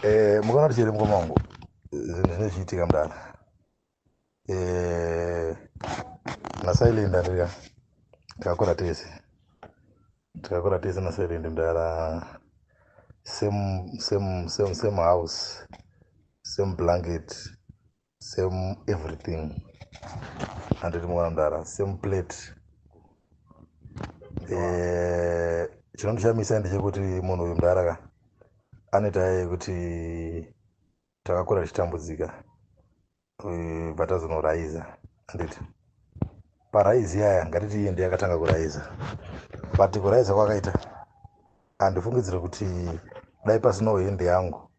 Eh, mukaona kuti chiri mukoma wangu zvinhu zvine zvichiitika mudana eh, nasailenda ndika takakura tese takakura tese nasailenda mudana same same same same house same blanket same everything anditi mwana mdara same plate eh, chinondishamisa e, ndechekuti munhu uyu mdara ka anoita yekuti takakura tichitambudzika eh, patazonoraiza anditi paraizi yaya ngatiti iye ndiye akatanga kuraiza but kuraiza kwakaita handifungidzire kuti dai pasinowo hende yangu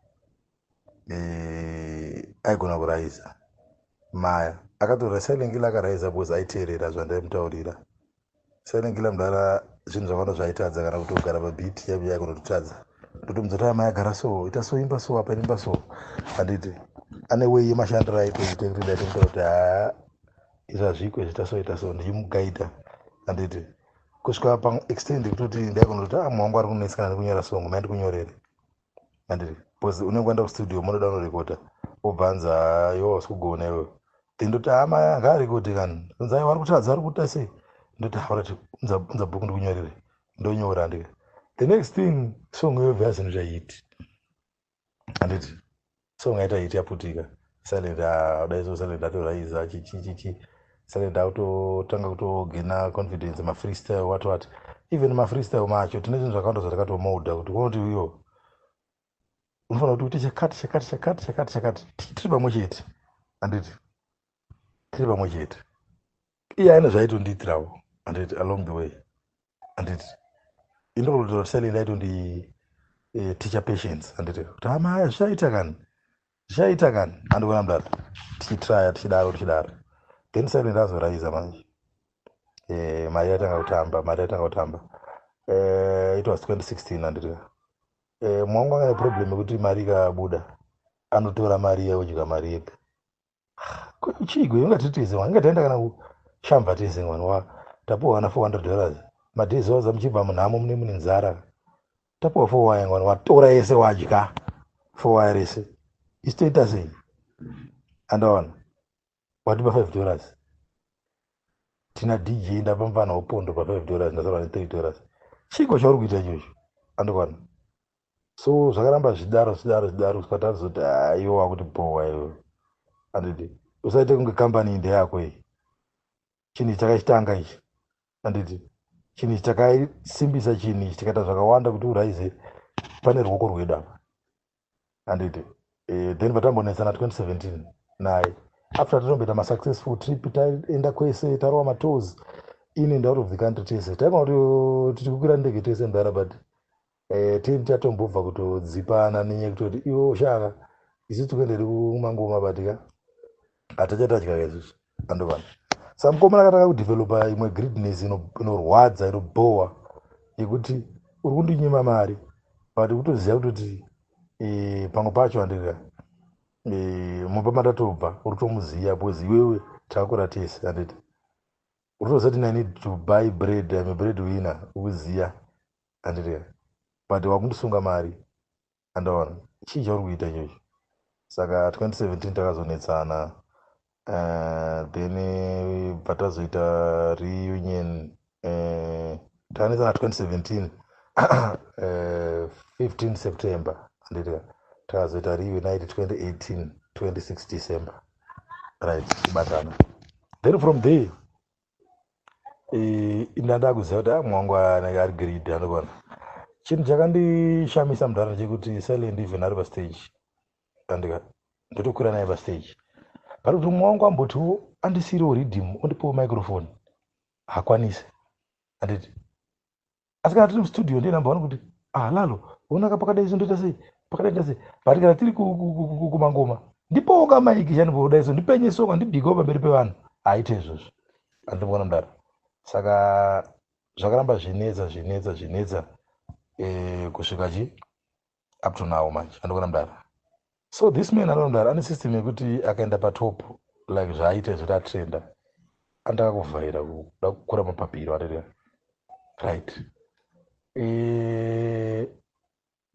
eh, aigona kuraiza maya akatora silengila akaraiza because aiteerera zvandaimutaurira silengila mudara zvinhu zvakawanda zvaitadza kana kuti kugara pabit yaive yaigona kutotadza ndotomudza kuti amai agara so ita so imba so apa imba so handiti ane wei yemashandiro aitoita kuti ndaitomutaura kuti haa izvi hazviko zviita so ita so ndichimugaida handiti kusvika paextend kutoti ndaigona kuti amwangu ah, ari kunetsikana nekunyora songo maindi kunyorere and bcause unenge waenda kustudio monoda unorekota obvanza yo wasi kugona iwe then ndoti hama yanga ari kuti kani nzai wari kutadza ari kuita sei ndoti haurati unza bhuku ndikunyorere ndonyora ndika the next thing song yovhea zvinhu zvaiti handiti song yaita hit yaputika silent ah, dai so silent atoraiza chichichichi silent akutotanga kutogena confidence mafreestyle what what even mafreestyle macho tine zvinhu zvakawanda zvatakatomoda kuti konoti uyo unofanira kuti uite chakati chakati chakati chakati chakati Ti- tiri pamwe chete handiti tiri pamwe chete iye aine zvaitondiitirawo handiti along the way handiti indokutotaura sele ndaito ndi eh, teacher patience handiti kuti hama haya zvichaita kani zvichaita kani handikuona mudaro tichitraya tichidaro tichidaro then sele ndazoraiza manje eh, mari yatanga kutamba mari yatanga kutamba eh, it was 2016 handiti eh, mwangu anga neproblem yekuti mari ikabuda anotora mari yeudya mari yega chiiko ingati tize mwana inga taenda kana kushamba tize mwana wa tapuwa kana 400 dollars madays oza muchibva munhamo mune mune nzara tapuwa for waya mwana watora yese wadya for waya rese istoita sei andaona watipa 5 dollars tina dj ndapa mfana wopondo pa 5 dollars ndasara ne 3 dollars chiiko chauri kuita ichocho andikwana so zvakaramba zvichidaro zvichidaro zvichidaro kusvika tazoti haiwa ah, wakuti bhowa iwe anditi usaite kunge kambani iyi ndeyako iyi chinhu ichi chakachitanga ichi anditi chinhu ichi chakasimbisa chinhu ichi tikaita zvakawanda kuti uraize pane ruoko rwedu apa anditi eh, then vatambonetsana 2017 naye after tatomboita masuccessful trip taenda kwese tarova matours in and out of the country tese taigona kuti oh, tiri kukwira ndege tese mdara but Eh, tiri tatombobva kutodzipana nenyaya kutoti iwe ushaka isu tikuenderi kumangoma batika hatachatadya kaisusu andovana sa mukomana akatanga kudevelopa imwe greedness inorwadza inobhowa yekuti uri kundinyima mari but kutoziva kutoti eh, pamwe pacho andika eh, mumba matatobva uri tomuziva because iwewe takura tese anditi uri toziva kuti nai need to buy bread ame bread winner ukuziva andireva but wakundisunga mari andaona chii chauri kuita ichocho saka 2017 takazonetsana uh, then eh, bva tazoita reunion uh, tanetsana 2017 uh, 15 september andireva takazoita reunite 2018 26 december right tibatana then from there eh, ndada kuziva kuti ah, mwangu anenge ari greedy anokona chinhu chakandishamisa mudhara chekuti silent even ari pastage andika ndotokwira naye pastage but kuti mumwe wangu ambotiwo andisiiriwo riddim ondipowo microphone hakwanise anditi asi kana tiri mustudio ndiye number one kuti ah lalo unaka pakadai so ndoita sei pakadai ndoita sei but kana tiri kumangoma ndipowo kamaiki chani podai so ndipenye so kandibhikewo pamberi pevanhu haite izvozvo andimona mdara saka zvakaramba zvinetsa zvinetsa zvinetsa eh, kusvika chi up to now manje andokona mdara so this man anoo mdara ane system yekuti akaenda patop like zvaaita izvoti atrenda andaka kuvhaira kuda kukura mapapiro arerera right e,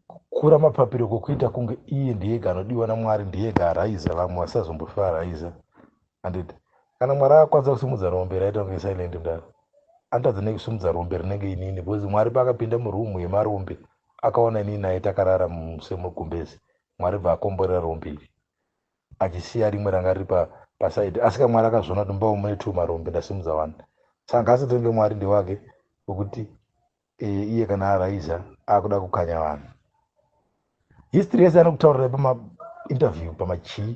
kukura mapapiro kwokuita kunge iye ndiyega anodiwa namwari ndiyega araiza vamwe vasazombofara araiza handiti kana mwari akakwanisa kusimudza rombe raita kunge silent mdara anotadza nei kusimudza rombe rinenge inini because mwari paakapinda murumu yemarombe akaona inini naye takarara semugumbezi mwari bva akomborera rombe iri achisiya rimwe ranga riri pasaidi asi ka mwari akazviona kuti mbawo mune two marombe ndasimudza wani saka ngaasatenge mwari ndewake wekuti Eh, iye kana araiza akuda kukanya vanhu history yese anokutaurira pamainterview pamachii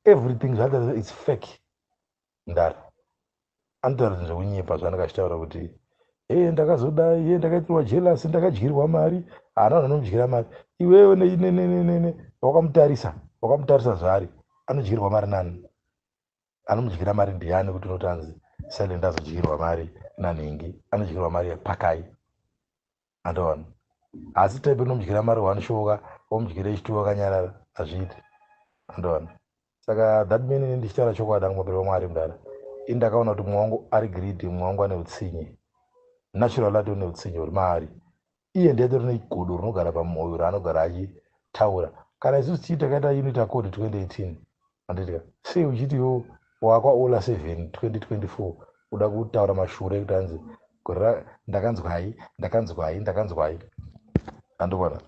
everything zvaataura its fake ndara anotaura zvekunyepa zvaanenge achitaura kuti e ndakazoda ye ndakaitirwa jelas ndakadyirwa mari haana vanhu vanomudyira mari iwewe neinenenenene wakamutarisa wakamutarisa zvaari anodyirwa mari nani Anomudyira mari ndiani kuti unoti anzi silent azodyirwa mari nanhingi anodyirwa mari yepakai andoona asi type inomudyira mari one shoka omudyira echituwa akanyarara hazviiti andoona saka that mean ini ndichitaura chokwadi angu mapiri wamwari mudara ini ndakaona kuti mumwe wangu ari greedy mumwe wangu ane utsinye natural ati une utsinye huri maari iye ndiye atori negodo rinogara pamoyo raanogara achitaura kana isusu tii takaita unit accord 2018 anditika sei uchiti yo wakwa ola 7 2024 uda kutaura mashure ekuti anzi gorira ndakanzwai ndakanzwai ndakanzwai andikona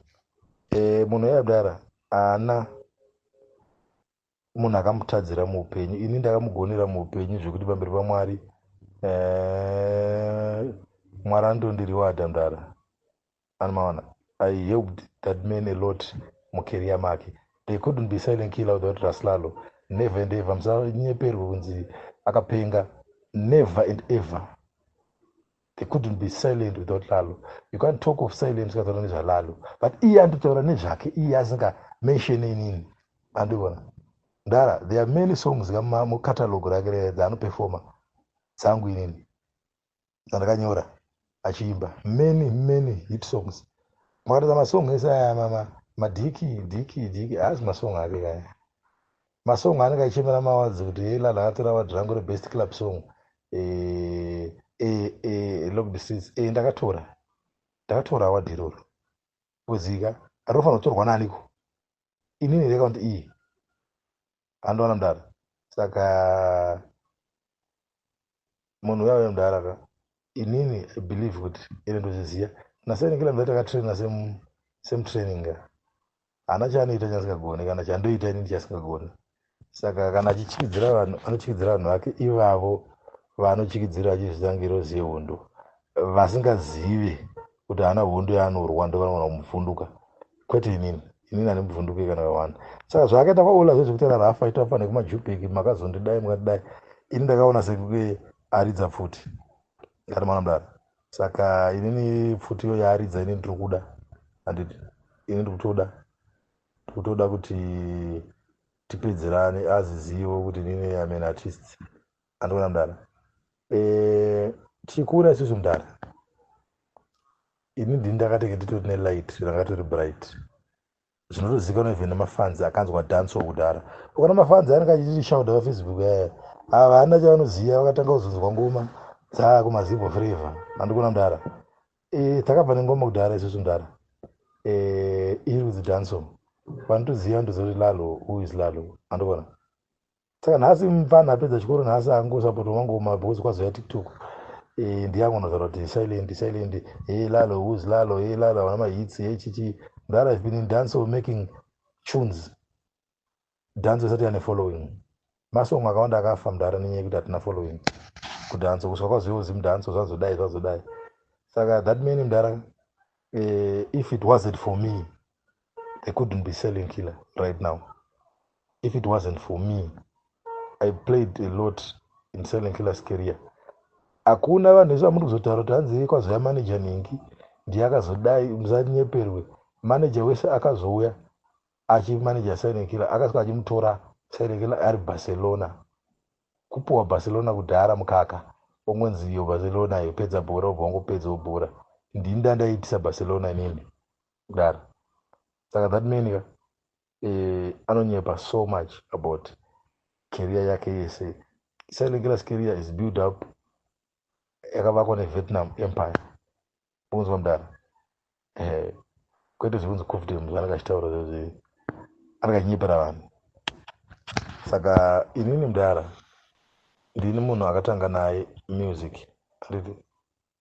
e, eh, munhu yabdara ana munhu akamutadzira muupenyu ini ndakamugonera muupenyu zvekuti pamberi pamwari eh, mwari anotondiriwo adhandara anomaona i helped that man a lot mukeria make they couldn't be silent killer without raslalo never and ever musanyeperwe kunzi akapenga never and ever They couldn't be silent without Lalo. You can't talk of silence without knowledge of Lalo. But iye andotaura nezvake iye asinga mention inini. Andivona. Ndara, there are many songs kama mu catalog rake rere dzaano performer. Zangu inini. Zandakanyora. Achiimba. Many, many hit songs. Mwakatadza masong ese aya mama. Madiki, diki, diki. Haasi masong ake kaya. Masong anenge achichemera mawadzi kuti hei lala hatora wadzi rangu rebest club song eh, eh, eh, locked seats eh, ndakatora ndakatora wadhi iroro kuzika rinofanira kutorwa naniko inini here kakuti iyi andoona mdara saka munhu uya uya mudhara ka inini i believe kuti ine ndozviziva nasaini kila mudhara takatraina same training ka haana chaanoita chaasingagoni kana chandoita inini chaasingagoni saka kana achichikidzira vanhu anochikidzira vanhu vake ivavo vaanochikidzira achizvitangira ozive hundu vasingazive kuti haana hondo yaanorwa ndovanoona kumuvhunduka kwete inini inini hane muvhunduke kana kawanda saka zvaakaita kwaola zve zvekuti rarafa itoapa nekumajupeki makazondidai mukatidai ini ndakaona sekuke aridza pfuti ndati mwana mudara saka inini pfuti iyo yaaridza ini ndiri kuda handiti ini ndiri kutoda ndiri kutoda kuti tipedzerane azizivo kuti inini amen artist andiona mdara eh, tichikura isusu mdara ini ndini ndakatenge nditori nelight ranga tori bright zvinotozikanwa even nemafanzi akanzwa danso kudhara ukana mafanzi anenge achititi shauda vafacebook yaya eh, havana chavanoziva vakatanga kuzonzwa ngoma dzaa kumazibo freva andikuona mdara eh, takabva nengoma kudhara isusu mdara eh, iri kudzi danso vanotoziva ndozoti lalo who is lalo andikuona saka nhasi mupfana apedza chikoro nhasi angosapota mangoma because kwazoya tiktok eh, ndiyangonotaura kuti silent silent hey eh, lalo whos lalo hey eh, lalo havana mahits hey chichi that ive been in dance of making tunes dance isati yane following masong akawanda akafa mudhara nenyaya yekuti hatina following kudhanso kusvika kwazoiwo zimudhanso zvazodai zvazodai saka that many mudhara uh, if it wasn't for me they couldn't be selling killer right now if it wasn't for me i played a lot in selling killers career hakuna vanhu vese vamuri kuzotaura kuti hanzi kwazouya manager nhingi ndiye akazodai musanyeperwe manager wese akazouya achimanager silent killer akasvika achimutora silent killer ari barcelona kupuwa barcelona kudhara mukaka ongonziyo barcelona yopedza bhora obva ongopedzawo bhora ndini ndandaitisa barcelona inini kudaro saka that man ka eh, anonyepa so much about career yake yese sailekelas career is build up yakavakwa nevietnam empire unzwa mudara eh, kwete zvekunzi cofdem zvanaka achitaura zvezve anakanyepera vanhu saka inini mudara ndini munhu akatanga naye music anditi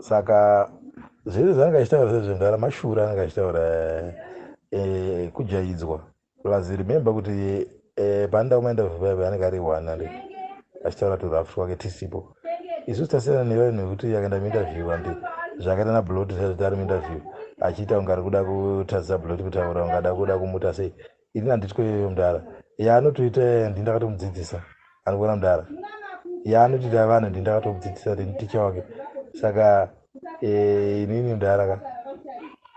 saka zvese zvaanga achitaura sezvendara mashura anga achitaura eh, kujaidzwa plus remember kuti eh, pandau mainterview paive anenge ari one ande achitaura turafu twake tisipo isu tasiyana nevayo nekuti akaenda muinterview ande zvakaita nablot zvaizoti ari muinterview achiita unga ari kuda kutadzisa blot kutaura unga ada kuda kumuta sei ini handitwe iyoyo mdara yaanotoita yaya ndi ndakatomudzidzisa anikuona mdara yaanotoita vanhu ndi ndakatomudzidzisa ndi ticha wake saka eh, inini mdara ka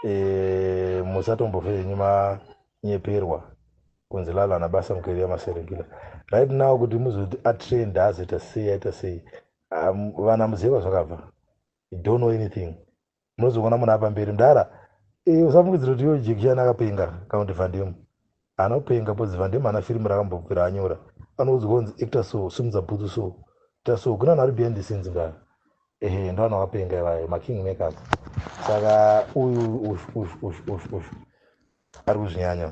eh, musatombofe henyu manyeperwa kunzi lalo ana basa mukeri yamaserekila right now kuti muzoti atrend azoita sei aita sei vana muziva zvakabva don't know anything munozoona munhu apa mberi mdara eh, usafungidzira kuti iyo jekishani akapenga kana kuti vandemu anopenga bcause vandemu ana firimu rakambopera anyora anoudzwa kunzi ecta so simudza bhutsu so ta so kuna vanhu vari behind the scenes ngaa ehe ndo vanhu vakapenga ivayo making makers saka uyu ush ush ush ush ush ari kuzvinyanya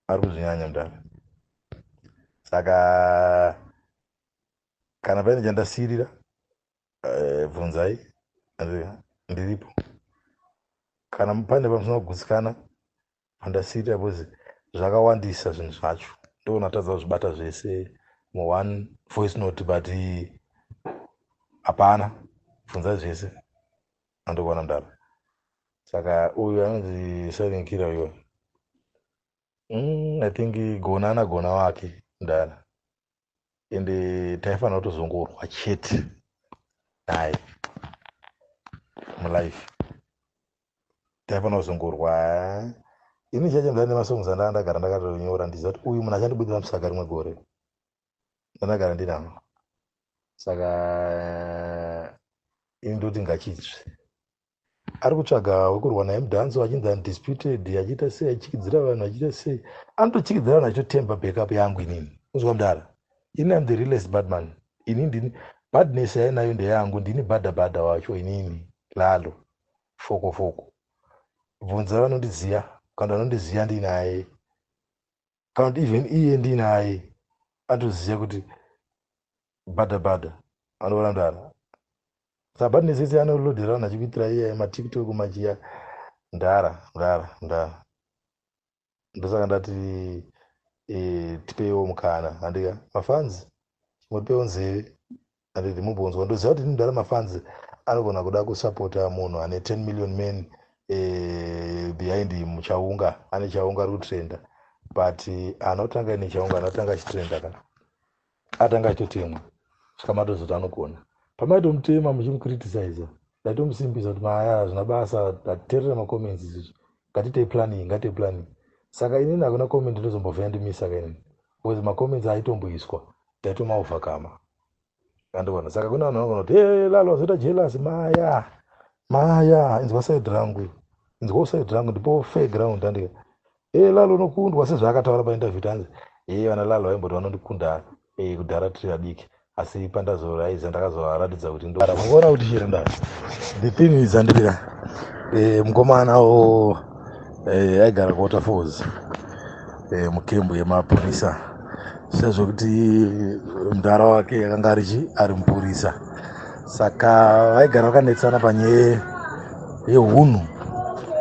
ari kuzvinyanya mdara saka kana paine chandasirira eh, bvunzai ndiripo kana pane pamusina kugutsikana pandasiita bcause zvakawandisa zvinhu zvacho ndoona tadza kuzvibata zvese muone voice note but hapana bvunza zvese andikuona ndaro saka uyu anonzi sarinkira uyo mm, i think gonana gona wake ndara ende taifanira kutozongorwa chete naye mulife taifanira kuzongorwa ini chacho ndane masongs andaa ndagara ndakatonyora ndiziva kuti uyu munhu achandibudira musaka rimwe gore ndandagara ndinano saka ini ndoti ngachitsve ari kutsvaga wekurwa naye mudhanso achinzi undisputed achiita sei achichikidzira vanhu achiita sei anotochikidzira vanhu achitotemba backup yangu inini uzwa mdara ini am the realest badman ini ndini badness yainayo ndeyangu ndini bada bada wacho inini lalo foko foko bvunza vanondiziva kana vanondiziva ndinaye kana kuti even iye ndinaye atoziva kuti bada bada anovarandana sabati nesese anolodhera vanhu achikuitira iya matiktok machiya ndara ndara ndara ndosaka ndati e, tipeiwo mukana handika mafanzi motipewo nzeve handidi mubonzwa ndoziva kuti ndinodara mafanzi anogona kuda kusapota munhu ane 10 million men eh, behind him chaunga ane chaunga ari kutrenda but anotanga ine chaunga anotanga achitrenda ka atanga achitotemwa svika matozoti anogona pamaitomutema muchimukritisiza ndaitomusimbisa kuti maya hazvina basa taterera macomments izizvi ngatiitei planning ngatiitei planning saka inini hakuna comment ndozombovhaya ndimisa ka inini because macomments aitomboiswa Taito ma overcomer. Andivona. Saka kuna vanhu vanogona kuti hey, lalo wazoita jealous maya. Maya inzwa side rangu. Inzwa side rangu ndipo fair ground handika. Hey, lalo unokundwa sezvaakataura pa interview tanzi. Hey, vana lalo vaimboti vanondikunda hey, kudhara tiri vadiki asi pandazoraiza ndakazovaratidza kuti ndokuona kuti here nda the thing is andibira eh, mukomana wo eh, aigara kuwaterfalls e, mukembu yemapurisa sezvo kuti mudhara wake yakanga arichi ari mupurisa saka vaigara vakanetsana panyaya yehunhu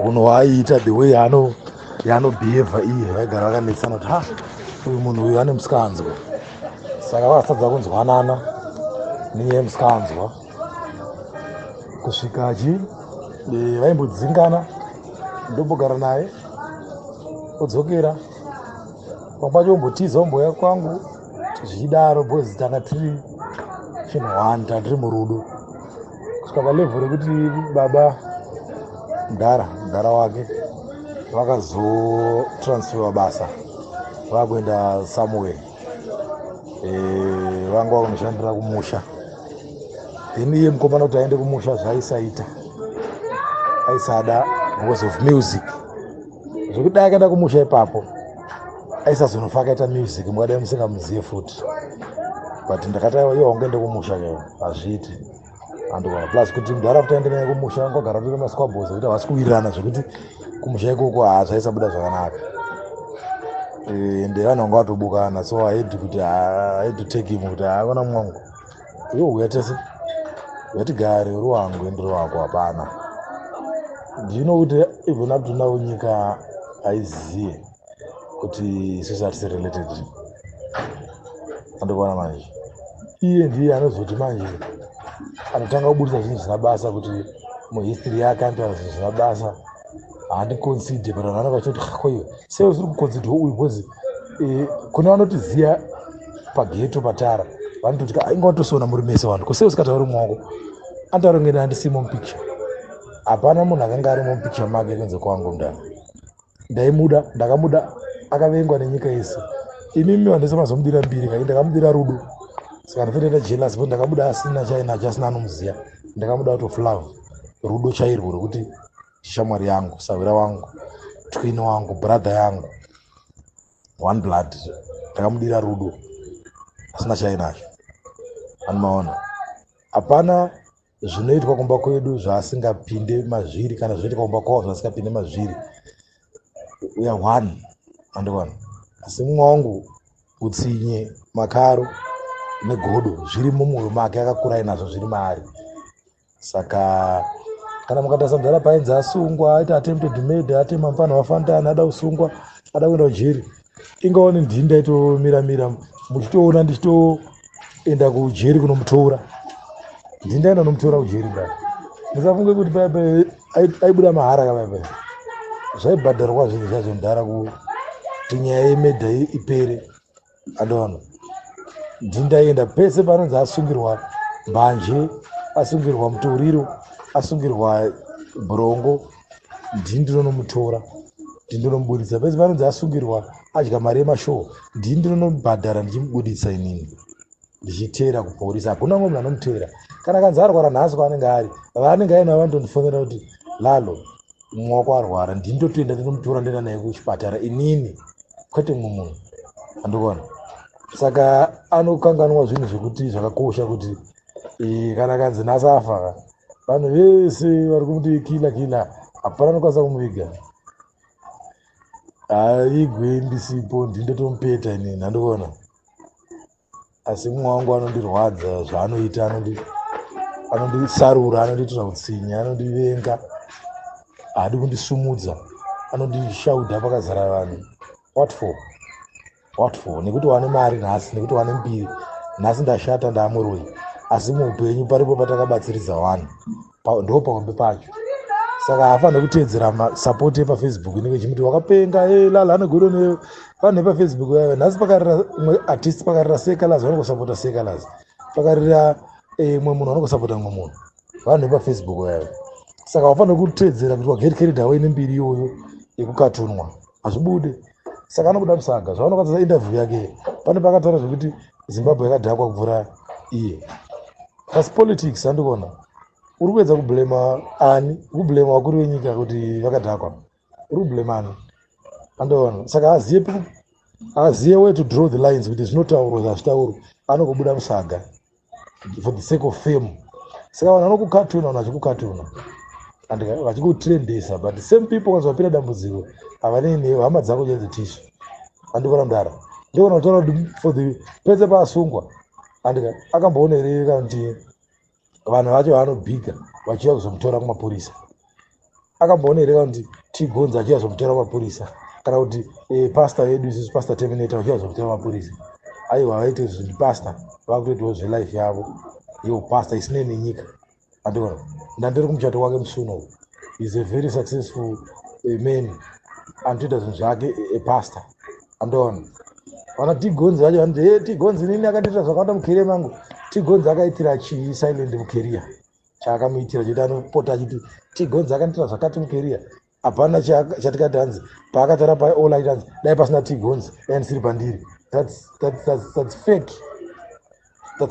hunhu hwaaiita the way ano yaanobhihevha iye vaigara vakanetsana kuti ha uyu munhu uyu ane musikanzwa saka vakatadza kunzwanana nenyaya yemusikanzwa kusvika achi eh, vaimbodzingana ndobogara naye odzokera pambacho ombotiza omboya kwangu zvichidaro bcoz tanga tiri chinhu one tanga tiri murudo kusvika palevho rekuti baba mdara mdara wake vakazotransferwa basa vakuenda somewhere eh, vanga vakunoshandira kumusha then iye mukomana kuti aende kumusha zvaaisaita aisada because of music zvekuti dai akaenda kumusha ipapo aisazonofa akaita music mukadai musingamuzive futi but ndakati yo wange ndekumusha keo hazviiti andona plus kuti mudhara kuti aende naye kumusha vanga vagara tori masquabos ekuti havasi kuwirirana zvekuti kumusha ikoko hazvaisabuda zvakanaka eh, ende vanhu vanga vatobukana so aidi kuti aidi take him kuti haavana mwangu iwo huya tese yatigare uri wangu ende uri wako hapana ndino kuti even up to now nyika haizive kuti sisi hatisi related andikuona manje iye ndiye anozoti manje anotanga kuburitsa zvinhu zvisina basa kuti muhistory yake anotaura zvinhu zvisina basa handikonside but vanhu vanenge vachiti kuti koiwe sei usiri kukonside uyu bcause eh, kune vanotiziva pageto patara vanototi ka inga watosona muri mese vanhu ko sei usikatauri mwako anotaura kunge ndandisimo mupicture hapana munhu akanga arimo mupicture make kunze kwangu mdana ndaimuda ndakamuda akavengwa nenyika yese imimi vandese mazomudira mbiri kai ndakamudira rudo saka ndifendaita jealous but ndakabuda asina chainacho asina anomuziva ndakabuda out of love rudo chairwo rwekuti shamwari yangu sahwira wangu twin wangu brother yangu one blood ndakamudira rudo asina chainacho anomaona hapana zvinoitwa kumba kwedu zvaasingapinde mazviri kana zvinoitwa kumba kwavo zvaasingapinde mazviri we are one andikona asi mumwe wangu utsinye makaro negodo zviri mumwoyo make akakura inazvo zviri maari saka kana mukatarisa mudhara painzi asungwa aita attempted made atema mfana wafantani ada kusungwa ada kuenda kujeri ingaone ndini ndaitomira mira muchitoona ndichitoenda kujeri kunomutora ndini ndaenda kunomutora kujeri kaa musafunge kuti paya paya aibuda mahara ka paya paya zvaibhadharwa zvinhu zvacho mudhara kuti nyaya yemedha ipere adona ndini ndaienda pese panonzi asungirwa mbanje asungirwa mutoriro asungirwa brongo ndini ndinonomutora ndini ndinomuburitsa pese panonzi asungirwa adya mari yemashowo ndini ndinonomubhadhara ndichimubuditsa inini ndichiteera kuporisa hakuna umwe munhu anomuteera kana kanzi arwara nhasi kwaanenge ari vaanenge aina vanondondifonera kuti lalo mumwe wako arwara ndini ndotoenda ndinomutora ndoenda naye kuchipatara inini kwete mumwe munhu andikuona saka anokanganwa zvinhu zvekuti zvakakosha kuti eh, kana kanzi nhasi afa vanhu vese vari kumuti kila kila hapana anokwanisa kumuviga haigwe ndisipo ndindotomupeta ini nhandikuona asi mumwe wangu anondirwadza zvaanoita anondisarura anondiitira utsinye anondivenga haadi kundisumudza anondishauda pakazara vanhu what for what for nekuti wane mari nhasi nekuti wane mbiri nhasi ndashata ndaamuroyi asi muupenyu paripo patakabatsiridza wani ndo pahombe pacho saka haafanire kuteedzera masapoti epafacebook inenge ichimuti wakapenga e eh, lala anogodo ne vanhu epafacebook vaive nhasi pakarira mwe artist pakarira sekalaz vanongosapota sekalaz pakarira eh, mwe munhu vanongosapota mwe munhu vanhu epafacebook vaive saka wafanire kuteedzera kuti waget carried away nembiri iyoyo yekukatunwa hazvibude saka anobuda musaga zvavanokatsa interview yake pane pakataura zvekuti zimbabwe yakadhakwa kuvhura iye asi politics andikuona uri kuedza kublema ani kublema vakuru venyika kuti vakadhakwa uri kublema ani andoona saka aziye aziye way to draw the lines kuti zvinotaurwa zvazvitaurwa anokubuda musaga for the sake of fame saka vanhu vanokukatuna vanhu vachikukatuna and vachikutrendesa but same people kanzi vapira dambudziko havanei newe hama dzako chenzi tisha andikona mdara ndikona kutaura kuti for the pese paasungwa andika akamboona here kana kuti vanhu vacho vaanobhiga vachiuya kuzomutora kumapurisa akamboona here kana kuti tigonza achiya zvokutera mapurisa kana kuti eh, pasta yedu isusu pasta terminator achiya zvokutera mapurisa aiwa vaite zvinhu pasta vakutoitawo zvelife yavo yo pasta isinei nenyika andiona ndandiri kumuchato kwake musuna uku is a very successful eh, man anotoita zvinhu zvake eh, pasta andiona vana tigonzi vacho vanoti e tigonzi nini akandiitira zvakawanda mukeria mangu tigonzi akaitira chii silent mukeria chaakamuitira chekuti anopota achiti tigonzi akanitira zvakati mukeria hapana chatikati hanzi paakatara paolit hanzi dai pasina tigonzi dai ndisiri pandiri that's, that's, that's, that's fake